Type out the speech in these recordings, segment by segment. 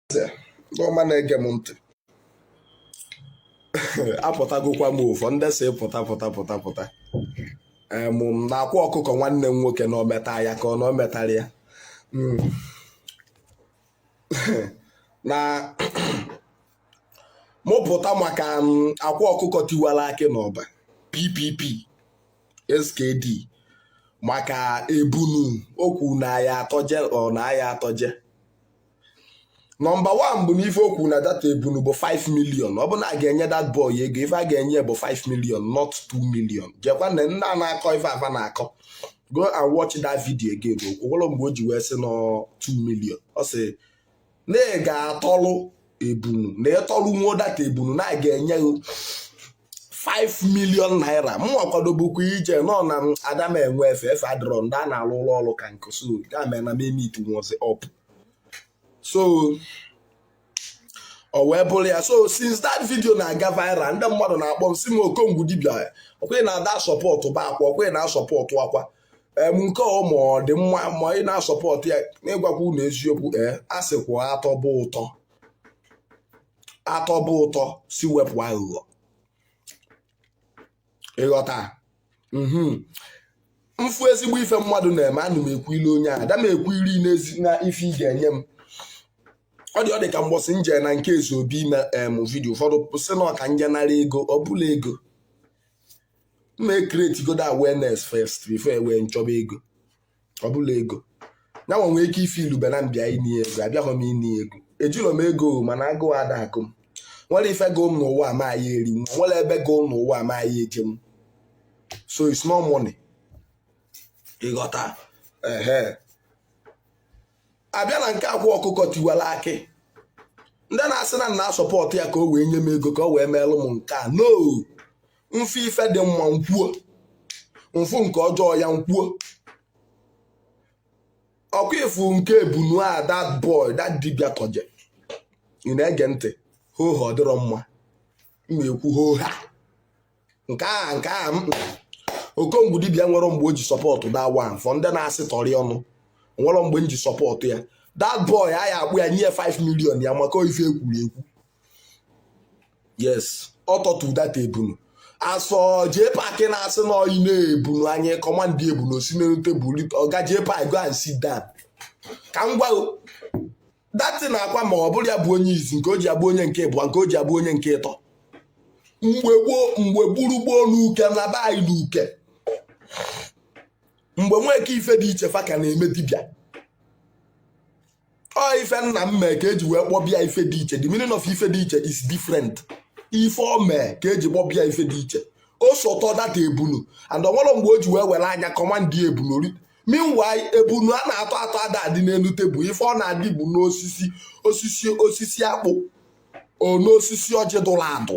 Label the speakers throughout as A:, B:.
A: eze ndị ọma na-ege m ntị apụtagokwa m o for ndị sị pụta pụta pụta pụta em m na akwa ọkụkọ nwanne m nwoke na o meta ya ka ọ na o metarọ ya Mm. na mụ pụta maka m, akwa ọkụkọ tiwara akị n'ọba ppp skd maka ebunu okwu na ya atọje ọ na ya atọje nọmba 1 bụ na ife o kwu na dat ebunu bụ 5 million ọ bụ na a ga-enye dat boy ego ife a ga-enye bụ 5 million not 2 million jekwa na nna na-akọ ife a fa na-akọ go and watch that video again o nwerọ mgbe o ji wee sị na ọ 2 million ọ sị na ị ga-atọlụ ebunu na ị tọlụnwo dat ebunu na a ga-enye 5 million naira m akwadobukwa ije nọ na ada m enwe efe efe adịrọ ndị a na-alụ ụlọ ọrụ ka nkụsụ ga mee na m emeet nwozi up so o wee bụrụ ya so since that video na-aga viral ndị mmadụ na-akpọ m sị m okongwu dibia ọkwa ị na-adị asọpọtụbu akwa ọkwa ị na-asọpọtụ akwa em nke ọ ma ọ dị mma ma ị na-asọpọtụ ya n'ịgwakwa unu eziokwu ee eh, a sịkwa atọba ụtọ atọba ụtọ sị wepụ aghụghọ ịghọta mhm. m fụ ezigbo ife mmadụ na-eme ana m ekwuilu onye a ada m ekwu iri n'ezi na ife ị ga-enye m ọ dị ọ dị ka mbọsị m je na nke ezeobi ime em video ụfọdụ sị na ọ ka m je nara ego ọ bụrọ ego m ma create godo awareness first before e wee nchọba ego ọ bụrọ ego ya nwee ike ife i lube na m bịa ịna ego abịahọ m ịna ego ejirọ m ego mana agụụ ada agụ m nwerọ ife gụụ m n'ụwa a ma aya eri m nwerọ ebe gụụ m n'ụwa a ma aya eje m so it's not money ịghọta ehe a bịa na nke akwa ọkụkọ tiwara akị ndị na-asị na m na-asọpọtụ ya ka o wee nye m ego ka o wee meelụ m nke a no m fụ ife dị mma m kwuo m fụ nke ọjọọ ya m kwuo ọkwa ị fụ nke ebunu a that boy that dibia tọje ị na-ege ntị hoha ọ dịrọ mma m na-ekwu hoha nke a nke a okongwu dibia nwerọ mgbe o ji sọpọtụ dat one for ndị na-asị tọrị ọnụ nwerọ mgbe m ji sọpọtụ ya that boy a ya-akpọ ya nye 5 million ya maka ife e kwuru ekwu yes ọ tọtụ dat ebunu asọ jee paakị na-asị na ọ ya na ebunu anyị kọmandị ebunu o si n'elu tebụl ọga jee paakị go and sit down ka m gwa dat na akwa ma ọ bụrọ ya bụ onye izi nke o ji abụ onye nke ịbụa nke o ji abụ onye nke ịtọ mgbe gboo mgbe gburugboo n'uke na be anyị n'uke mgbe nweke ifediche fa ka na-eme dibịa ọ ife nna m mee ka eji wee kpọba ya ife dị iche the meaning of ife dị iche is different ife o mee ka eji kpọba ya ife dị iche o so tọdata ebunu and o nwerọ mgbe o ji wee were anya kọmandị ebunu meanwhile ebunu a na-atọ atọ ada adị n'elu tebụl ife ọ na-adị bụ n'osisi osisi akpụ or n'osisi ọjị dụrụ adụ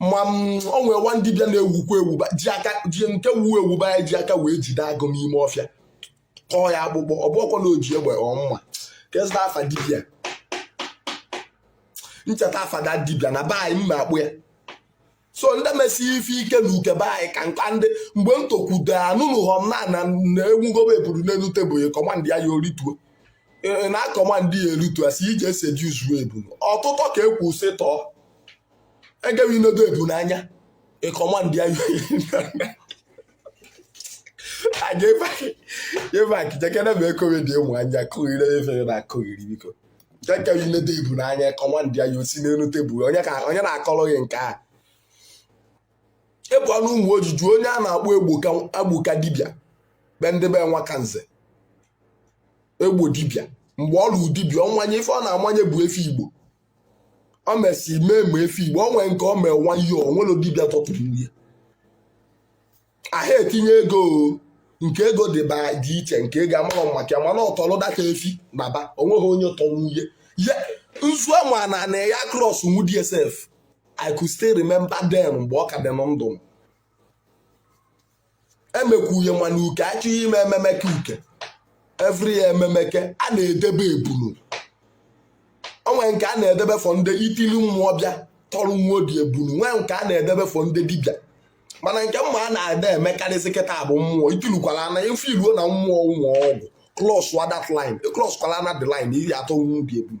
A: ma ọ nwere nwa dibịa na-ewukwa ewu ji aka ji nke wuo ewu be anyị ji aka wee jide agụ n'ime ọfịa kọọ ya akpụkpọ ọ bụrọkwa na o ji egbe ọ mma ka echeta afa dibịa m cheta afa dibịa na be anyị m akpọ ya so ndị mesi ife ike na uke be anyị ka nka ndị mgbe m tokwudo anụnụghọ m na a na-enwugobe ebunu n'elu tebụl kọmandị ya o rituo na kọmandị ya erituo asị ije seduzuo ebunu ọtụtọ ka ekwu sị tọọ agaghị inedo ebunu anya ị kọmandị ya jevaki jekene ma ekowe dị ụmụ anya kụghịrị efere na akụghịrị biko jekere inedo ebunu anya ị kọmandị ya o si n'elu tebụl onye na-akọrọ gị nke a ị pụọ n'ụmụoji jụọ onye a na-akpọ egboka dibịa be ndị be nwaka nze egbo dibịa mgbe ọ lụrụ dibịa ọnwanye ife ọ na-amanye bụ efi igbo ọ mesị mee ma efi igbo ọ nwere nke ọ mee nwa ihe ọ nwere dibịa tọpụrụ nwunye aha etinye ego nke ego dị ba dị iche nke ego amarọ m maka ya mana ọ tọrọdata efi na ba o nweghị onye tọrọ nwunye ya nzu ama na na ya cross nwu dsf i could still remember then mgbe ọ ka dị na ndụ m emekwuye mana uke achọghị ime ememeke uke every year ememeke a na-edebe ebunu o nwee nke a na-edebe for ndị itili mmụọ bịa tọrọ nwa odi ebunu nwee nke a na-edebe for ndị dibịa mana nke mmụọ a na-ada emekarịsị kịta bụ mmụọ itilukwala na ife iluo na mmụọ ụmụ ọgwụ cross wa that line cross kwala na the line ị bịa tọrọ nwa odi ebunu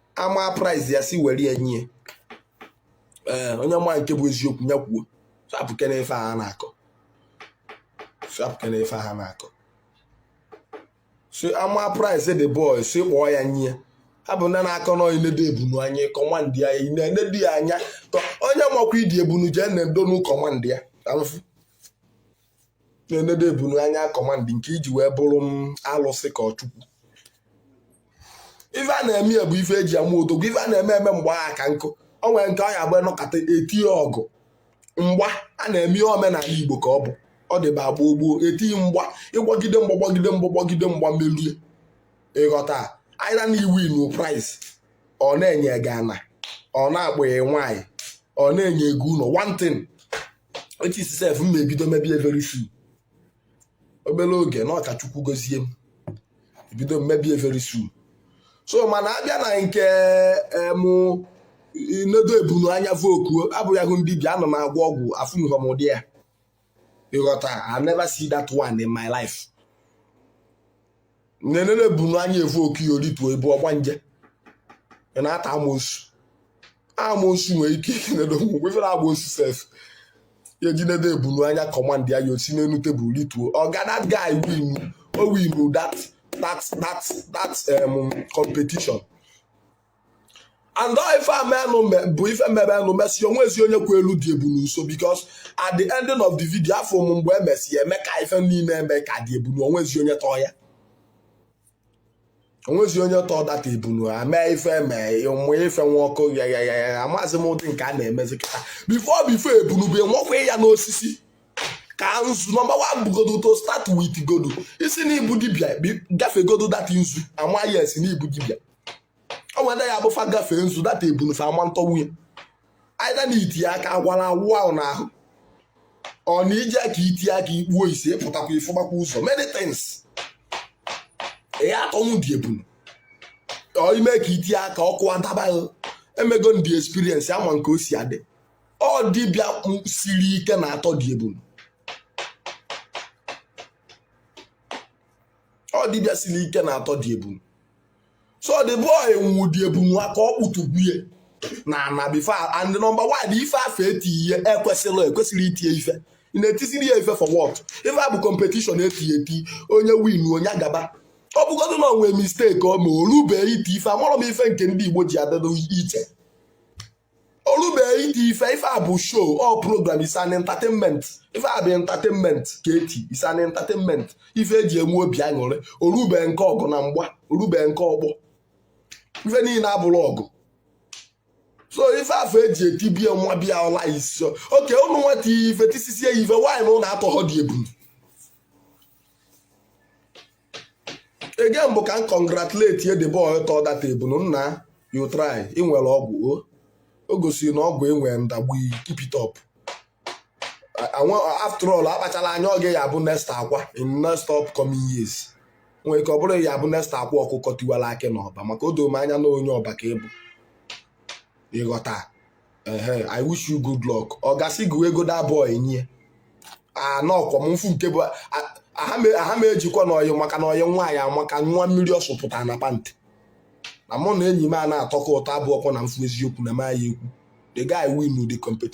A: ama prize ya si were ya nye ee onye ma nke bụ eziokwu ya kwuo sapụke na ife a na-akọ sapụke na ife a na-akọ so ama prize the boy si kpọọ ya nye ha bụ ndị na-akọ na inedo ebunu anya kọmandị ya na-enedo ya anya onye makwa idi ebunu jee nedonụ kọmandị ya ka m fụ na-enedo ebunu anya kọmandị nke iji wee bụrụ m alụsị ka ọ chukwu ife a na-eme ya bụ ife eji ama odogwu ife a na-eme eme mgbe agha ka nkụ o nwere nke ọ ya-abụ nọkata etie ọgụ mgba a na-eme omenala igbo ka ọ bụ ọ dịba gboo gboo etie mgba ị gbagide mgba gbagide mgba gbagide mgba merie ị ghọta either na i winnụ prize or na-enye gị ana or na-akpọ gị nwaanyị or na-enye ego ụlọ one thing echi sef m ebido mebie very soon obere oge na ọ ka Chukwu gozie m ebido mebie very soon so mana abịa na nke mụ nedo ebunu anya voku abụ ya hụ dibia anọ m agwọ ọgwụ afụnụhọ m ụdị ya ịghọta I never see that one in my life nenede ebunu anya efu okiyo rituo ị bụ ọgbanje ị na-ata amosu amosu nwere ike ikinedo ngwugwu ifere amosu sef ya eji nedo ebunu anya command ya ya o si n'elu table rituo oga that guy win o win that that that that um, competition and all ife amenụ bụ ife mere nụ mesịa onwezi onye kwu elu the ebunu nso because at the ending of the video afụ m mgbe emesi ya eme ka ife niile eme ka the ebunu onwezi onye tọọ ya onwezi onye tọọ that ebunu mee ife eme ụmụ ife nwa ọkụ ya ya ya ya amaghịzi m ụdị nke a na-emezi kịta before before ebunu bụ enwekwa ya n'osisi ka nzu number one bugodo to start with godo isi na ị bụ dibia gafegodo that nzu ama yes na ị bụ dibia o nwere ya abụ fa gafee nzu that ebunu fa ama ntọnwu ya either na iti aka agwara awụ ahụ n'ahụ or na ije ka iti aka ikpuo isi pụtakwa ịfụgbakwa ụzọ many things ya atọnwu the ebunu ime ka iti aka ọkụ adaba emego ndị experience ama nke o si adị ọ dibịa siri ike na-atọ the ebunu ọ dibịa siri ike na-atọ the ebunu so the boy nwụ the ebunu aka ọ kpụtụgwu ye n'ana before and number one ife afụ eti ihe ekwesịrị ekwesịrị itie ife ị na-etiziri ya ife for what ife a bụ competition eti eti onye win onye agaba ọ bụgodị na onwe mistake ọ ma orube iti ife amarọ m ife nke ndị Igbo ji adịdụ iche orube iti ife ife a bụ show ọ program is an entertainment ife a bụ entertainment ka eti is an entertainment ife eji enwe obi aṅụrị orube nke ọgụ na mgba orube nke ọkpọ ife niile abụrụ ọgụ so ife afụ eji etibie nwa bịa ọla isi okay ụnụ nwa etie ife tisisie ya ife mana ụnụ atọghọ the ebunu again bụ ka m congratulate ye the boy tọ that ebunu nna you try ị nwere ọgwụ o o gosiri na ọgwụ enwere ndagbu iyi keep it up A- anwa after all akpachala anya ọ gị ya-abụ next Akwa in next upcoming years nwere ike ọ bụrụ ị ya-abụ next Akwa Ọkụkọ Tiwara Akị n'Ọba maka o doro m anya na onye Ọba ka ị bụ ịghọta ehe i wish you good luck ọ gasị gị ego that boy nye anọkwa m mfu nke bụ aha m ejikwa n'ọyị maka na ọyị nwaanyị amaka nwa mmiri ọ sụpụtara na pant na mụ na enyi m a na-atọkọ ụtọ abụọkwa na mfu eziokwu na m ya ekwu the guy win the competition